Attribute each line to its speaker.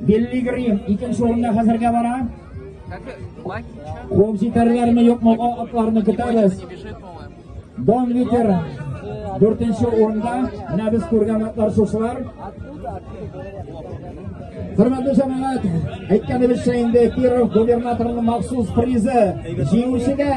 Speaker 1: Билли Грим икенче урында хәзергә бара. Куып җитәрләрме, юкмы, о атларны көтәбез. Дон Витер дүртенче урында. Менә без күргән атлар шушылар. Хөрмәтле җәмәгать, әйткәнебезчә инде Киров губернаторының махсус призы җиңүчегә